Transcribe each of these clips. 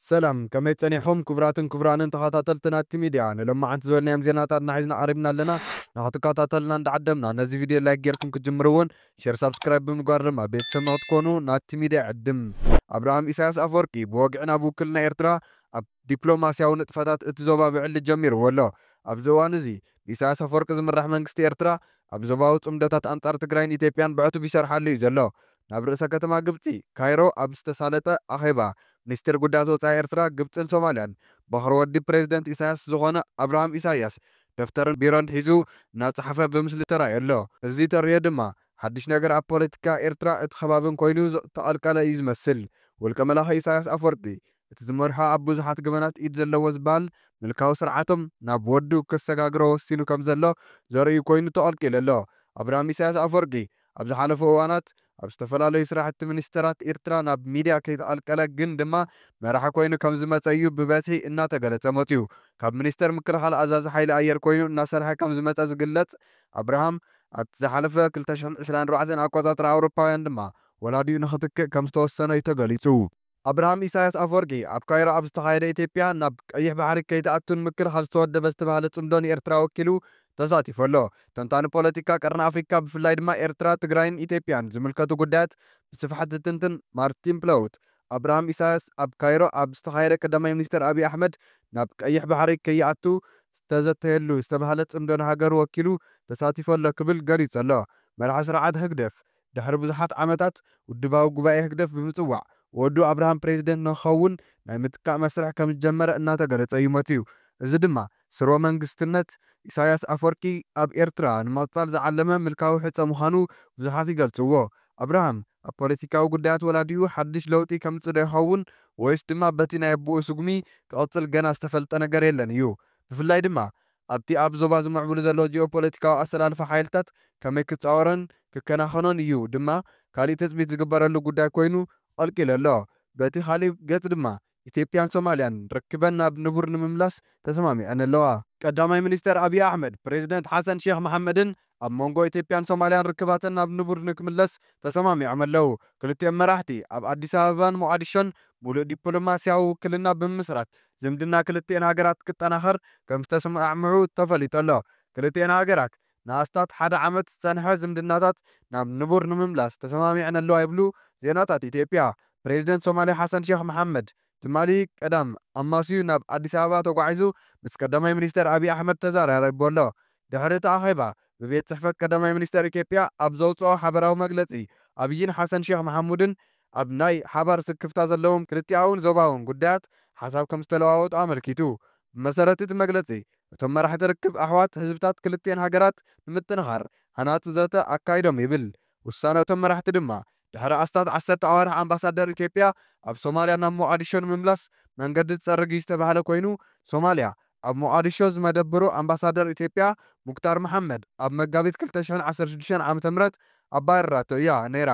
ሰላም ከመይ ጸኒሕኹም ክቡራትን ክቡራንን ተኻታተልቲ ናቲ ሚድያ ንሎማዓንቲ ዝበልናዮም ዜናታት እና ሒዝና ቀሪብና ኣለና ንኽትካታተሉና እንዳዓደምና ነዚ ቪድዮ ላይክ ጌርኩም ክትጅምሩ ውን ሼር ሳብስክራይብ ብምግባር ድማ ቤተሰብ ንኽትኮኑ ናቲ ሚድያ ይዕድም ኣብርሃም ኢሳያስ ኣፍወርቂ ብወግዒ ናብ ውክልና ኤርትራ ኣብ ዲፕሎማስያዊ ንጥፈታት እቲ ዞባ ብዕሊ ጀሚርዎ ኣሎ ኣብዚ እዋን እዚ ብኢሳያስ ኣፍወርቂ ዝምራሕ መንግስቲ ኤርትራ ኣብ ዞባዊ ጽምዶታት ኣንጻር ትግራይን ኢትዮጵያን ብዕቱብ ይሰርሓሉ እዩ ዘሎ ናብ ርእሰ ከተማ ግብጺ ካይሮ ኣብ ዝተሳለጠ ኣኼባ፣ ሚኒስትር ጉዳያት ወጻኢ ኤርትራ፣ ግብጽን ሶማልያን፣ በዅሪ ወዲ ፕረዚደንት ኢሳያስ ዝዀነ ኣብርሃም ኢሳያስ፣ ደፍተርን ቢሮን ሒዙ እናጸሓፈ ብምስሊ ተራእዩ ኣሎ። እዚ ተርእዮ ድማ፣ ሓድሽ ነገር ኣብ ፖለቲካ ኤርትራ እቲ ከባብን ኰይኑ ዝተቐልቀለ እዩ ዝመስል። ውልቀ መላኺ ኢሳያስ ኣፍወርቂ፣ እቲ ዝመርሖ ኣብ ብዙሓት ገበናት ኢድ ዘለዎ ዝበሃል ምልካዊ ስርዓቶም ናብ ወዱ ከሰጋግሮ ወሲኑ ከም ዘሎ ዘርእዩ ኰይኑ ተቐልቂሉ ኣሎ። ኣብርሃም ኢሳያስ ኣፍወርቂ፣ ኣብ ዝሓለፉ እዋናት ኣብ ዝተፈላለዩ ስራሕቲ ሚኒስተራት ኢርትራ ናብ ሚድያ ከይተቐልቀለ ግን ድማ መራሒ ኮይኑ ከም ዝመጸ እዩ ብበዝሒ እናተገለጸ መጺኡ። ካብ ሚኒስተር ምክልኻል ኣዛዚ ሓይሊ ኣየር ኮይኑ እናሰርሐ ከም ዝመጸ ዝግለጽ ኣብርሃም፣ ኣብቲ ዝሓለፈ ክልተ ሽሕን ዕስራን ኣርባዕተን ኣቆጻጽራ ኣውሮፓውያን ድማ ወላዲኡ ንኽትክእ ከም ዝተወሰነ'ዩ ተገሊጹ። ኣብርሃም ኢሳያስ ኣፍወርቂ ኣብ ካይሮ ኣብ ዝተኻየደ ኢትዮጵያ ናብ ቀይሕ ባሕሪ ከይትኣቱ ንምክልኻል ዝተወደበ ዝተባህለ ጽምዶ ንኤርትራ ወኪሉ ተሳቲፉ ኣሎ። ተንታኒ ፖለቲካ ቀርኒ ኣፍሪካ ብፍላይ ድማ ኤርትራ፣ ትግራይን ኢትዮጵያን ዝምልከቱ ጉዳያት ብስፍሓት ዝትንትን ማርቲን ፕለውት ኣብርሃም ኢሳያስ ኣብ ካይሮ ኣብ ዝተኻየደ ቀዳማይ ሚኒስተር ኣብይ ኣሕመድ ናብ ቀይሕ ባሕሪ ከይኣቱ ዝተዘተየሉ ዝተባህለ ጽምዶ ንሃገሩ ወኪሉ ተሳቲፉ ኣሎ ክብል ገሊጹ ኣሎ። መራሒ ስርዓት ህግደፍ ድሕሪ ብዙሓት ዓመታት ውድባዊ ጉባኤ ህግደፍ ብምጽዋዕ ወዱ ኣብርሃም ፕረዚደንት ንክኸውን ናይ ምትካእ መስርሕ ከምዝጀመረ እናተገለጸ እዩ መጺኡ። እዚ ድማ ስርወ መንግስትነት ኢሳይያስ ኣፍወርቂ ኣብ ኤርትራ ንምቕጻል ዝዓለመ ምልካዊ ሕጸ ምዃኑ ብዙሓት ይገልጽዎ። ኣብርሃም ኣብ ፖለቲካዊ ጉዳያት ወላዲኡ ሓድሽ ለውጢ ከምጽእ ዶ ይኸውን ወይስ ድማ በቲ ናይ ኣቡኡ ስጉሚ ክቕጽል ገና ዝተፈልጠ ነገር የለን እዩ። ብፍላይ ድማ ኣብቲ ኣብ ዞባ ዝምዕብሉ ዘሎ ጂኦፖለቲካዊ ኣሰላልፋ ሓይልታት ከመይ ክጻወሮን ክከናኸኖን እዩ ድማ ካሊእ ትጽቢት ዝግበረሉ ጉዳይ ኮይኑ ቐልቂሉ ኣሎ። በቲ ካሊእ ገጽ ድማ ኢትዮጵያን ሶማሊያን ርክበን ናብ ንቡር ንምምላስ ተሰማሚዐን ኣለዋ። ቀዳማይ ሚኒስተር ኣብዪ ኣሕመድ፣ ፕረዚደንት ሓሰን ሼኽ መሓመድን ኣብ መንጎ ኢትዮጵያን ሶማልያን ርክባተን ናብ ንቡር ንክምለስ ተሰማሚዖም ኣለው። ክልቲኦም መራሕቲ ኣብ ኣዲስ ኣበባን ሞቓዲሾን ሙሉእ ዲፕሎማሲያዊ ውክልና ብምምስራት ዝምድና ክልቲኤን ሃገራት ክጠናኸር ከምዝተስማዕምዑ ተፈሊጡ ኣሎ። ክልቲኤን ሃገራት ንኣስታት ሓደ ዓመት ዝፀንሐ ዝምድናታት ናብ ንቡር ንምምላስ ተሰማሚዐን ኣለዋ ይብሉ ዜናታት ኢትዮጵያ። ፕሬዝደንት ሶማልያ ሓሰን ሼኽ መሓመድ ትማሊ ቀዳም ኣማስዩ ናብ ኣዲስ ኣበባ ተጓዒዙ ምስ ቀዳማይ ሚኒስተር ኣቢይ ኣሕመድ ተዘራሪቡ ኣሎ። ድሕሪ እቲ ኣኼባ ብቤት ጽሕፈት ቀዳማይ ሚኒስተር ኢትዮጵያ ኣብ ዘውጽኦ ሓበራዊ መግለጺ፣ ኣቢይን ሓሰን ሼኽ መሓሙድን ኣብ ናይ ሓባር ስክፍታ ዘለዎም ክልቲኣውን ዞባውን ጉዳያት ሓሳብ ከምዝተለዋወጡ ኣመልኪቱ። ብመሰረት እቲ መግለጺ፣ እቶም መራሕቲ ርክብ ኣሕዋት ህዝብታት ክልቲኤን ሃገራት ንምጥንኻር ሃናጺ ዘተ ኣካይዶም ይብል። ውሳነ እቶም መራሕቲ ድማ ድሕሪ ኣስታት ዓሰርተ ኣዋርሕ ኣምባሳደር ኢትዮጵያ ኣብ ሶማልያ ናብ ሞቓዲሾ ንምምላስ መንገዲ ትፀርግ'ዩ ዝተብሃለ ኮይኑ ሶማልያ ኣብ ሞቓዲሾ ዝመደብሩ ኣምባሳደር ኢትዮጵያ ሙክታር መሓመድ ኣብ መጋቢት ክልተ ሽሕን ዓሰርተ ሽዱሽተን ዓመተ ምህረት ኣባሪራቶ እያ ነይራ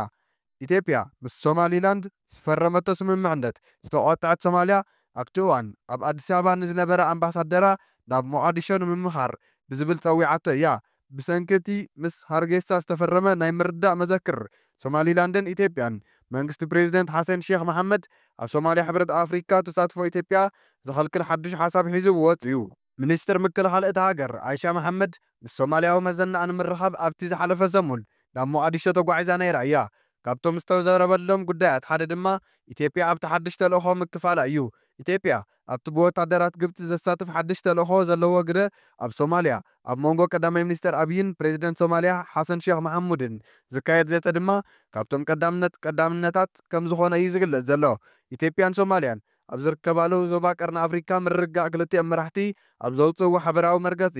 ኢትዮጵያ ምስ ሶማሊላንድ ዝፈረመቶ ስምምዕነት ዝተቖጥዐት ሶማልያ ኣብቲ እዋን ኣብ ኣዲስ ኣበባ ንዝነበረ ኣምባሳደራ ናብ ሞቓዲሾ ንምምኻር ብዝብል ፀዊዓቶ እያ ብሰንኪ እቲ ምስ ሃርጌሳ ዝተፈረመ ናይ ምርድዳእ መዘክር ሶማሊላንድን ኢትዮጵያን፣ መንግስቲ ፕሬዚደንት ሓሰን ሼኽ መሓመድ ኣብ ሶማሊያ ሕብረት ኣፍሪካ ተሳትፎ ኢትዮጵያ ዝኸልክል ሓዱሽ ሓሳብ ሒዙ ወፂኡ። ሚኒስትር ምክልኻል እታ ሃገር ኣይሻ መሓመድ ምስ ሶማሊያዊ መዘናኣ ንምርኻብ ኣብቲ ዝሓለፈ ሰሙን ናብ ሞቓዲሾ ተጓዒዛ ነይራ እያ። ካብቶም ዝተዘረበሎም ጉዳያት ሓደ ድማ ኢትዮጵያ ኣብቲ ሓድሽ ተልእኾ ምክፋላ እዩ። ኢትዮጵያ ኣብቲ ብወታደራት ግብጺ ዘሳትፍ ሓድሽ ተልእኾ ዘለዎ ግደ ኣብ ሶማልያ ኣብ መንጎ ቀዳማይ ሚኒስተር ኣብይን ፕረዚደንት ሶማልያ ሓሰን ሼኽ መሓሙድን ዝካየድ ዘተ ድማ ካብቶም ቀዳምነት ቀዳምነታት ከምዝኾነ እዩ ዝግለጽ ዘሎ። ኢትዮጵያን ሶማልያን ኣብ ዝርከባሉ ዞባ ቀርኒ ኣፍሪካ ምርግጋእ ክልቲኦም መራሕቲ ኣብ ዘውጽእዎ ሓበራዊ መርገጺ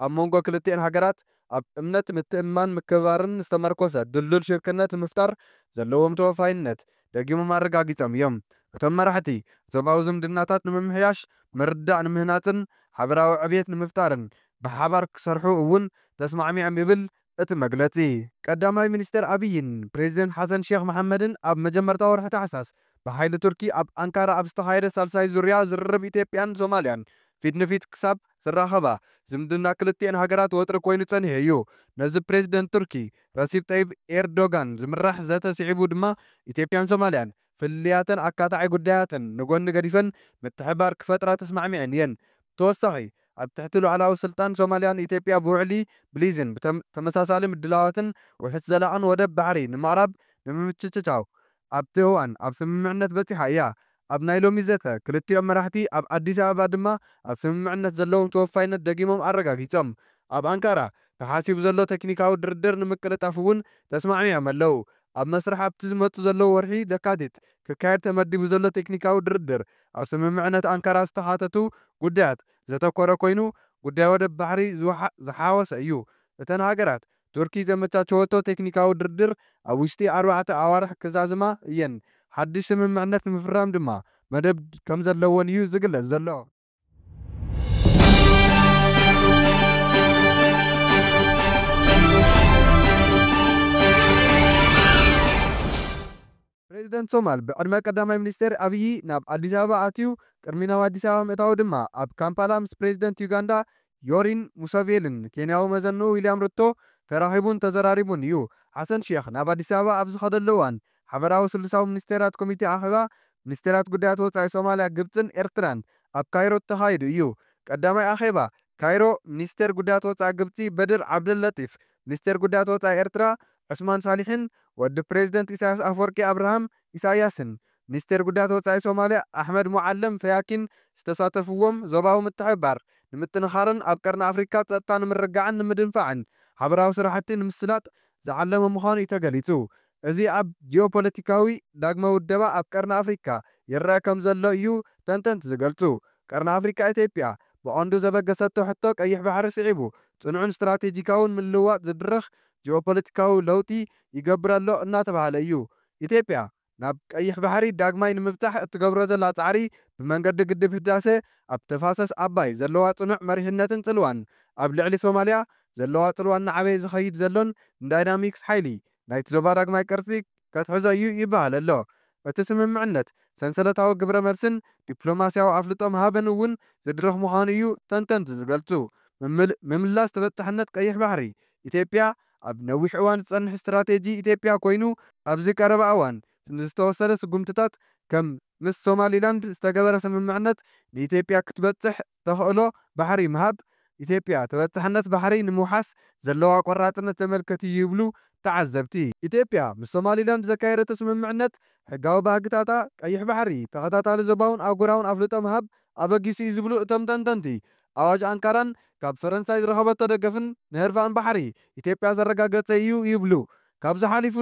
ኣብ መንጎ ክልቲኤን ሃገራት ኣብ እምነት፣ ምትእምማን፣ ምክብባርን ዝተመርኮሰ ድልዱል ሽርክነት ንምፍጣር ዘለዎም ተወፋይነት ደጊሞም ኣረጋጊጾም እዮም። እቶም መራሕቲ፣ ዞባዊ ዝምድናታት ንምምሕያሽ፣ ምርድዳእ ንምህናጽን ሓበራዊ ዕብየት ንምፍጣርን ብሓባር ክሰርሑ እውን ተስማዕሚዖም ይብል እቲ መግለጺ። ቀዳማይ ሚኒስተር ኣብይን ፕረዚደንት ሓሰን ሼኽ መሓመድን ኣብ መጀመርታ ወርሒ ታሕሳስ ብሓይሊ ቱርኪ ኣብ ኣንካራ ኣብ ዝተኻየደ ሳልሳይ ዙርያ ዝርርብ ኢትዮጵያን ሶማልያን ፊት ንፊት ክሳብ ዝራኸባ፣ ዝምድና ክልቲኤን ሃገራት ወጥሪ ኮይኑ ጸኒሑ እዩ። ነዚ ፕረዚደንት ቱርኪ ረሲፕ ጠይብ ኤርዶጋን ዝምራሕ ዘተ ስዒቡ ድማ ኢትዮጵያን ሶማልያን ፍልልያተን ኣካታዒ ጉዳያተን ንጎኒ ገዲፈን ምትሕብባር ክፈጥራ ተስማዕሚዐን እየን። ብተወሳኺ ኣብ ትሕቲ ሉዓላዊ ስልጣን ሶማልያ ንኢትዮጵያ ብውዕሊ ብሊዝን ብተመሳሳሊ ምድላዋትን ውሑስ ዘላቕን ወደብ ባሕሪ ንምቕራብ ንምምችችቻው ኣብቲ እዋን ኣብ ስምምዕነት በጺሓ እያ። ኣብ ናይ ሎሚ ዘተ ክልቲኦም መራሕቲ ኣብ ኣዲስ ኣበባ ድማ ኣብ ስምምዕነት ዘለዎም ተወፋይነት ደጊሞም ኣረጋጊጾም። ኣብ ኣንካራ ተሓሲቡ ዘሎ ተክኒካዊ ድርድር ንምቅልጣፍ እውን ተስማዕሚዖም ኣለው። ኣብ መስርሕ ኣብቲ ዝመጽእ ዘሎ ወርሒ ለካቲት ክካየድ ተመዲቡ ዘሎ ቴክኒካዊ ድርድር ኣብ ስምምዕነት ኣንካራ ዝተሓተቱ ጉዳያት ዘተኮረ ኮይኑ ጉዳይ ወደብ ባሕሪ ዝሓወሰ እዩ። እተን ሃገራት ቱርኪ ዘመቻቸወቶ ቴክኒካዊ ድርድር ኣብ ውሽጢ ኣርባዕተ ኣዋርሕ ክዛዝማ እየን፣ ሓድሽ ስምምዕነት ንምፍራም ድማ መደብ ከምዘለወን እዩ ዝግለጽ ዘሎ። ፕሬዚደንት ሶማል ብዕድመ ቀዳማይ ሚኒስቴር ኣብዪ ናብ ኣዲስ ኣበባ ኣትዩ ቅድሚ ናብ ኣዲስ ኣበባ ምእታዉ ድማ ኣብ ካምፓላ ምስ ፕሬዚደንት ዩጋንዳ ዮሪን ሙሰቬልን ኬንያዊ መዘንኡ ዊልያም ሩቶ ተራኺቡን ተዘራሪቡን እዩ። ሓሰን ሼኽ ናብ ኣዲስ ኣበባ ኣብ ዝኸደሉ እዋን ሓበራዊ ስሉሳዊ ሚኒስቴራት ኮሚቴ ኣኼባ ሚኒስቴራት ጉዳያት ወፃኢ ሶማሊያ ግብፅን ኤርትራን ኣብ ካይሮ ተኻይዱ እዩ። ቀዳማይ ኣኼባ ካይሮ ሚኒስቴር ጉዳያት ወፃኢ ግብፂ በድር ዓብደለጢፍ ሚኒስቴር ጉዳያት ወፃኢ ኤርትራ ዑስማን ሳሊሕን ወዲ ፕሬዝደንት ኢሳያስ ኣፍወርቂ ኣብርሃም ኢሳያስን ሚኒስቴር ጉዳያት ወፃኢ ሶማሊያ ኣሕመድ ሙዓለም ፈያኪን ዝተሳተፍዎም ዞባዊ ምትሕብባር ንምጥንኻርን ኣብ ቀርኒ ኣፍሪካ ፀጥታ ንምርጋዕን ንምድንፋዕን ሓበራዊ ስራሕቲ ንምስላጥ ዝዓለመ ምዃኑ እዩ ተገሊፁ። እዚ ኣብ ጂኦፖለቲካዊ ዳግመ ውደባ ኣብ ቀርኒ ኣፍሪካ ይረኣ ከምዘሎ እዩ ተንተንቲ ዝገልፁ። ቀርኒ ኣፍሪካ ኢትዮጵያ ብቐንዱ ዘበገሰቶ ሕቶ ቀይሕ ባሕሪ ስዒቡ ፅኑዕን ስትራቴጂካውን ምልውዋጥ ዝድርኽ ጂኦፖለቲካዊ ለውጢ ይገብር ኣሎ እናተብሃለ እዩ። ኢትዮጵያ ናብ ቀይሕ ባሕሪ ዳግማይ ንምብፃሕ እትገብሮ ዘላ ፃዕሪ ብመንገዲ ግድብ ህዳሰ፣ ኣብ ተፋሰስ ኣባይ ዘለዋ ፅኑዕ መሪሕነትን ፅልዋን፣ ኣብ ልዕሊ ሶማሊያ ዘለዋ ፅልዋ እናዓበየ ዝኸይድ ዘሎን ንዳይናሚክስ ሓይሊ ናይቲ ዞባ ዳግማይ ቅርጺ ከትሕዞ እዩ ይበሃል ኣሎ። እቲ ስምምዕነት፣ ሰንሰለታዊ ግብረ-መልስን ዲፕሎማስያዊ ኣፍልጦ ምሃብን እውን ዝድርኽ ምዃኑ እዩ ተንተንቲ ዝገልጹ። ምምላስ ተበጻሕነት ቀይሕ ባሕሪ ኢትዮጵያ ኣብ ነዊሕ እዋን ዝጸንሕ ስትራቴጂ ኢትዮጵያ ኮይኑ፣ ኣብዚ ቀረባ እዋን ንዝተወሰደ ስጉምትታት፣ ከም ምስ ሶማሊላንድ ዝተገበረ ስምምዕነት፣ ንኢትዮጵያ ክትበጽሕ ተኽእሎ ባሕሪ ምሃብ፣ ኢትዮጵያ ተበፃሕነት ባሕሪ ንምውሓስ ዘለዋ ቆራፅነት ዘመልከት እዩ ይብሉ ተዓዘብቲ። ኢትዮጵያ ምስ ሶማሊላንድ ዘካየደቶ ስምምዕነት ሕጋዊ ባህግታታ፣ ቀይሕ ባሕሪ ተኸታታሊ ዞባውን ኣህጉራውን ኣፍልጦ ምሃብ ኣበጊሱ እዩ ዝብሉ እቶም ተንተንቲ፣ ኣዋጅ ኣንካራን ካብ ፈረንሳይ ዝረኸበቶ ደገፍን ንህርፋን ባሕሪ ኢትዮጵያ ዘረጋገፀ እዩ ይብሉ። ካብዚ ሓሊፉ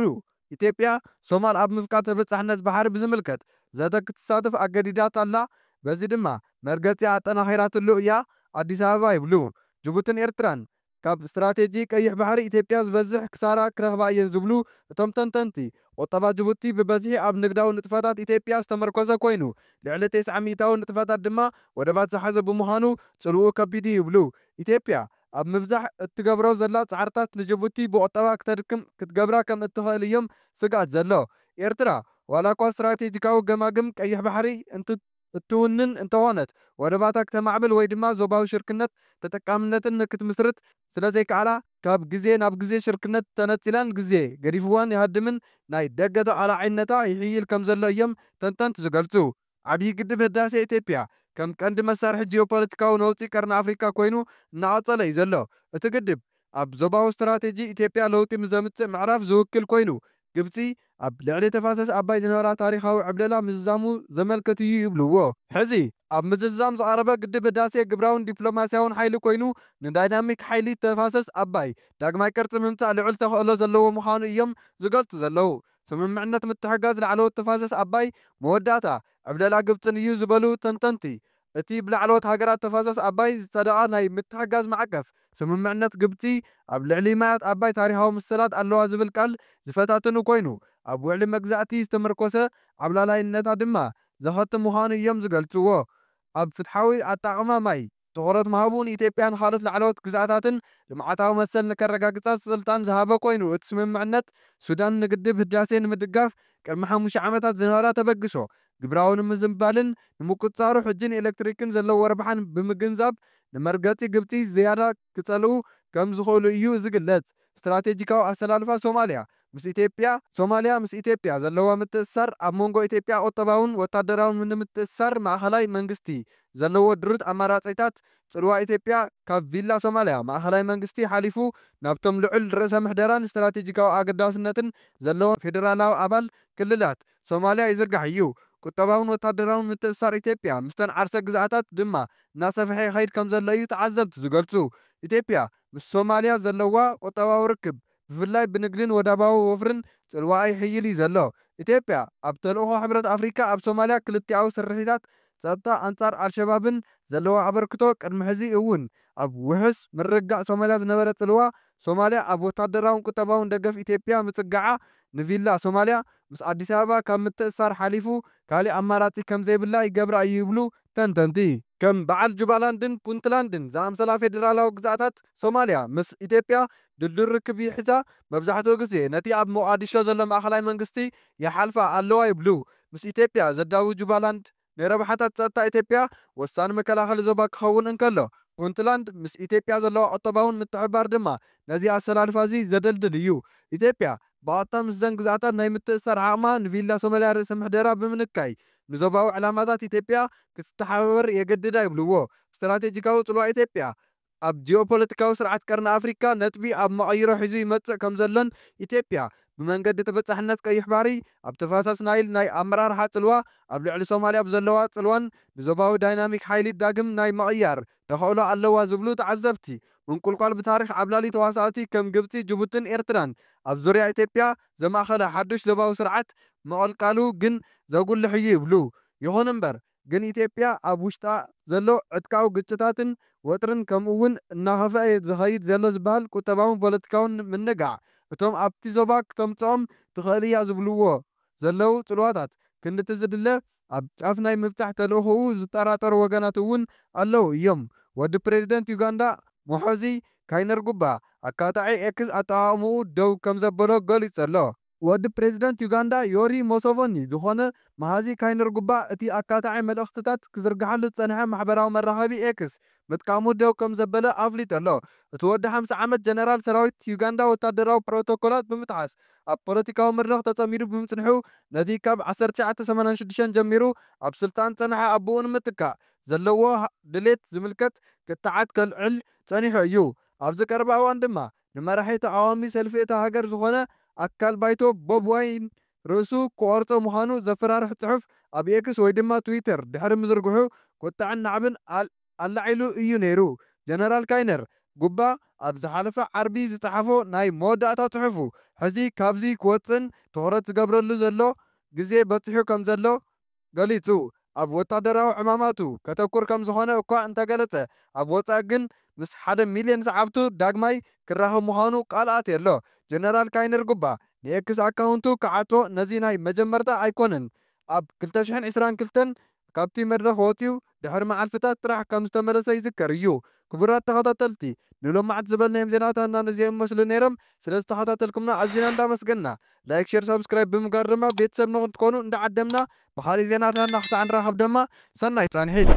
ኢትዮጵያ፣ ሶማል ኣብ ምፍቃድ ተበጻሕነት ባሕሪ ብዝምልከት ዘተ ክትሳተፍ ኣገዲዳት ኣላ፣ በዚ ድማ መርገጺኣ ኣጠናኺራትሉ እያ ኣዲስ ኣበባ ይብሉ። ጅቡትን ኤርትራን፣ ካብ ስትራቴጂ ቀይሕ ባሕሪ ኢትዮጵያ ዝበዝሕ ክሳራ ክረኽባ እየን ዝብሉ እቶም ተንተንቲ፣ ቁጠባ ጅቡቲ ብበዝሒ ኣብ ንግዳዊ ንጥፈታት ኢትዮጵያ ዝተመርኮሰ ኮይኑ፣ ልዕሊ ቴስዓ ሚእታዊ ንጥፈታት ድማ ወደባት ዝሓዘ ብምዃኑ ጽልውኡ ከቢድ'ዩ ይብሉ። ኢትዮጵያ፣ ኣብ ምብዛሕ እትገብሮ ዘላ ጻዕርታት ንጅቡቲ ብቑጠባ ክተድክም ክትገብራ ከም እትኽእል እዩም ስግኣት ዘሎ። ኤርትራ ዋላኳ ስትራቴጂካዊ ገማግም ቀይሕ ባሕሪ እንት እትውንን እንተኾነት፣ ወደባታ ክተማዕብል ወይ ድማ ዞባዊ ሽርክነት ተጠቃምነትን ንክትምስርት ስለ ዘይከኣላ፣ ካብ ግዜ ናብ ግዜ ሽርክነት ተነጺላን ግዜ ገዲፍዋን ይሃድምን ናይ ደገ ተቓላዒነታ ይሕይል ከም ዘሎ እዩም ተንተንት ዝገልጹ። ዓብዪ ግድብ ህዳሴ ኢትዮጵያ ከም ቀንዲ መሳርሒ ጂኦፖለቲካዊ ነውጺ ቀርኒ ኣፍሪካ ኮይኑ እናቐፀለ እዩ ዘሎ። እቲ ግድብ ኣብ ዞባዊ ስትራቴጂ ኢትዮጵያ ለውጢ ንዘምፅእ ምዕራፍ ዝውክል ኮይኑ ግብፂ ኣብ ልዕሊ ተፋሰስ ኣባይ ዝነበራ ታሪኻዊ ዕብለላ ምዝዛሙ ዘመልክት እዩ ይብልዎ። ሕዚ ኣብ ምዝዛም ዝቐረበ ግድብ ህዳሴ ግብራውን ዲፕሎማሲያውን ሓይሊ ኮይኑ ንዳይናሚክ ሓይሊ ተፋሰስ ኣባይ ዳግማይ ቅርፂ ምምፃእ ልዑል ተኸእሎ ዘለዎ ምዃኑ እዮም ዝገልፁ ዘለዉ። ስምምዕነት ምትሕጋዝ ላዕለዎት ተፋሰስ ኣባይ መወዳእታ ዕብለላ ግብፅን እዩ ዝበሉ ተንተንቲ፣ እቲ ብላዕለዎት ሃገራት ተፋሰስ ኣባይ ዝፀደቐ ናይ ምትሕጋዝ ማዕቀፍ ስምምዕነት ግብፂ ኣብ ልዕሊ ማያት ኣባይ ታሪኻዊ መሰላት ኣለዋ ዝብል ቃል ዝፈታትኑ ኮይኑ ኣብ ውዕሊ መግዛእቲ ዝተመርኮሰ ዓብላላይነታ ድማ ዘኸትም ምዃኑ እዮም ዝገልፅዎ። ኣብ ፍትሓዊ ኣጣቕማ ማይ ትኹረት ምሃቡ ንኢትዮጵያን ኻልኦት ላዕለዎት ግዝኣታትን ልምዓታዊ መሰል ንከረጋግፃ ስልጣን ዝሃበ ኮይኑ እቲ ስምምዕነት ሱዳን ንግድብ ህዳሴ ንምድጋፍ ቅድሚ ሓሙሽተ ዓመታት ዝነበራ ተበግሶ ግብራዊ ንምዝንባልን ንምቁፅፃሩ ሕጂ ንኤሌክትሪክን ዘለዎ ረብሓን ብምግንዛብ ንመርገፂ ግብፂ ዝያዳ ክፀልኡ ከምዝኽእሉ እዩ ዝግለፅ። ስትራቴጂካዊ ኣሰላልፋ ሶማልያ ምስ ኢትዮጵያ፣ ሶማልያ ምስ ኢትዮጵያ ዘለዋ ምትእስሳር፣ ኣብ መንጎ ኢትዮጵያ ቁጠባውን ወታደራውን ንምትእስሳር ማእኸላይ መንግስቲ ዘለዎ ድሩት ኣማራፂታት፣ ፅልዋ ኢትዮጵያ ካብ ቪላ ሶማልያ ማእኸላይ መንግስቲ ሓሊፉ ናብቶም ልዑል ርእሰ ምሕደራን ስትራቴጂካዊ ኣገዳስነትን ዘለዎም ፌደራላዊ ኣባል ክልላት ሶማልያ ይዝርጋሕ እዩ። ቁጠባውን ወታደራውን ምትእስሳር ኢትዮጵያ ምስተን ዓርሰ ግዝኣታት ድማ እናሰፈሐ ይኸይድ ከምዘሎ እዩ ተዓዘብቲ ዝገልፁ። ኢትዮጵያ፣ ምስ ሶማልያ ዘለዋ ቁጠባዊ ርክብ፣ ብፍላይ ብንግድን ወደባዊ ወፍርን ጽልዋኣ ይሕይል እዩ ዘሎ። ኢትዮጵያ፣ ኣብ ተልእኾ ሕብረት ኣፍሪቃ ኣብ ሶማልያ ክልቲኣዊ ስርሒታት ጸጥታ ኣንጻር ኣልሸባብን ዘለዋ ኣበርክቶ፣ ቅድሚ ሕዚ እውን ኣብ ውሕስ ምርግጋእ ሶማልያ ዝነበረ ጽልዋ፣ ሶማልያ ኣብ ወተሃደራውን ቁጠባውን ደገፍ ኢትዮጵያ ምጽጋዓ ንቪላ ሶማልያ ምስ ኣዲስ ኣበባ ካብ ምትእስሳር ሓሊፉ ካሊእ ኣማራፂ ከምዘይብላ ይገብራ እዩ ይብሉ ተንተንቲ። ከም በዓል ጁባላንድን ፑንትላንድን ዝኣምሰላ ፌዴራላዊ ግዝኣታት ሶማልያ ምስ ኢትዮጵያ ድልዱል ርክብ ይሕዛ፣ መብዛሕትኡ ግዜ ነቲ ኣብ ሞቓዲሾ ዘሎ ማእኸላይ መንግስቲ ይሓልፋ ኣለዋ ይብሉ ምስ ኢትዮጵያ ዘዳውብ ጁባላንድ። ንረብሓታት ጸጥታ ኢትዮጵያ ወሳኒ መከላኸሊ ዞባ ክኸውን እንከሎ፣ ፑንትላንድ ምስ ኢትዮጵያ ዘለዋ ቁጠባውን ምትሕብባር ድማ ነዚ ኣሰላልፋ'ዚ ዘደልድል እዩ። ኢትዮጵያ ብቐጥታ ምስዘን ግዝኣታት ናይ ምትእስሳር ዓቕማ ንቪላ ሶማልያ ርእሰ ምሕደራ ብምንካይ ንዞባዊ ዕላማታት ኢትዮጵያ ክትተሓባበር የገድዳ ይብልዎ ስትራቴጂካዊ ጽልዋ ኢትዮጵያ ኣብ ጂኦፖለቲካዊ ስርዓት ቀርኒ ኣፍሪካ ነጥቢ ኣብ መቐይሮ ሒዙ ይመፅእ ከምዘሎን ኢትዮጵያ ብመንገዲ ተበፃሕነት ቀይሕ ባሕሪ ኣብ ተፋሰስ ናይል ናይ ኣመራርሓ ፅልዋ ኣብ ልዕሊ ሶማሊያ ብዘለዋ ፅልዋን ንዞባዊ ዳይናሚክ ሓይሊ ዳግም ናይ ምቕያር ተኸእሎ ኣለዋ ዝብሉ ተዓዘብቲ ምንቁልቋል ብታሪኽ ዓብላሊ ተዋሳእቲ ከም ግብፂ ጅቡትን ኤርትራን ኣብ ዙርያ ኢትዮጵያ ዘማእኸለ ሓዱሽ ዞባዊ ስርዓት ምቕልቃሉ ግን ዘጉልሕ እዩ ይብሉ። ይኹን እምበር። ግን ኢትዮጵያ ኣብ ውሽጣ ዘሎ ዕጥቃዊ ግጭታትን ወጥርን ከምኡ እውን እናኸፍኣ ዝኸይድ ዘሎ ዝበሃል ቁጠባውን ፖለቲካውን ምንጋዕ እቶም ኣብቲ ዞባ ክተምፅኦም ትኽእል እያ ዝብልዎ ዘለው ፅልዋታት ክንድቲ ዝድለ ኣብ ጫፍ ናይ ምብፃሕ ተልእኾኡ ዝጠራጠሩ ወገናት እውን ኣለው እዮም ወዲ ፕሬዚደንት ዩጋንዳ ሞሖዚ ካይነርጉባ ኣካታዒ ኤክስ ኣጠቓቕምኡ ደው ከምዘበሎ ገሊፁ ዘሎ። ወዲ ፕሬዚደንት ዩጋንዳ ዮሪ ሞሶቮኒ ዝኾነ መሃዚ ካይነርጉባ እቲ ኣካታዒ መልእኽትታት ክዝርግሓሉ ዝፀንሐ ማሕበራዊ መራኸቢ ኤክስ ምጥቃሙ ደው ከምዘበለ ኣፍሊጡ'ሎ። እቲ ወዲ ሓምሳ ዓመት ጀነራል ሰራዊት ዩጋንዳ ወታደራዊ ፕሮቶኮላት ብምጥሓስ ኣብ ፖለቲካዊ መድረኽ ተፀሚዱ ብምፅንሑ ነቲ ካብ ዓሰርተ ትሽዓተ ሰማንያን ሽዱሽተ ጀሚሩ ኣብ ስልጣን ዝፀንሐ ኣቡኡ ንምትካእ ዘለዎ ድሌት ዝምልከት ክትዓት ከልዕል ፀኒሑ እዩ። ኣብዚ ቀረባ እዋን ድማ ንመራሒ ተቓዋሚ ሰልፊ እታ ሃገር ዝኾነ ኣካል ባይቶ ቦብ ዋይን ርእሱ ክቖርጾ ምዃኑ ዘፈራርሕ ጽሑፍ ኣብ ኤክስ ወይ ድማ ትዊተር ድሕሪ ምዝርግሑ ቁጠዐን ናዕብን ኣላዒሉ እዩ ነይሩ። ጀነራል ካይነር ጉባ ኣብ ዝሓለፈ ዓርቢ ዝጸሓፎ ናይ መወዳእታ ጽሑፉ ሕዚ ካብዚ ክወጽእን ትኹረት ዝገብረሉ ዘሎ ግዜ በጺሑ ከምዘሎ ገሊጹ ኣብ ወታደራዊ ዕማማቱ ከተኩር ከም ዝኾነ እኳ እንተገለጸ፣ ኣብ ወጻኢ ግን ምስ ሓደ ሚልዮን ሰዓብቱ ዳግማይ ክራኸብ ምዃኑ ቃል ኣትየ'ሎ። ጀነራል ካይነርጉባ ንኤክስ ኣካውንቱ ክዓጽዎ ነዚ ናይ መጀመርታ ኣይኮነን። ኣብ ክልተ ሽሕን ዕስራን ክልተን ካብቲ መድረኽ ወጺኡ፣ ድሕሪ መዓልቲታት ጥራሕ ከም ዝተመለሰ ይዝከር እዩ። ክቡራት ተኸታተልቲ ንሎማዕንቲ ዝበልናዮም ዜናታትና ነዚኦም ይመስሉ ነይሮም። ስለ ዝተኸታተልኩምና ኣዚና እንዳመስገንና ላይክ ሸር ሳብስክራይብ ብምግባር ደማ ቤተሰብ ንኽትኮኑ እንዳዓደምና ብኻሊእ ዜናታትና ክሳዕ ንራኸብ ደማ ሰናይ ጻንሒት።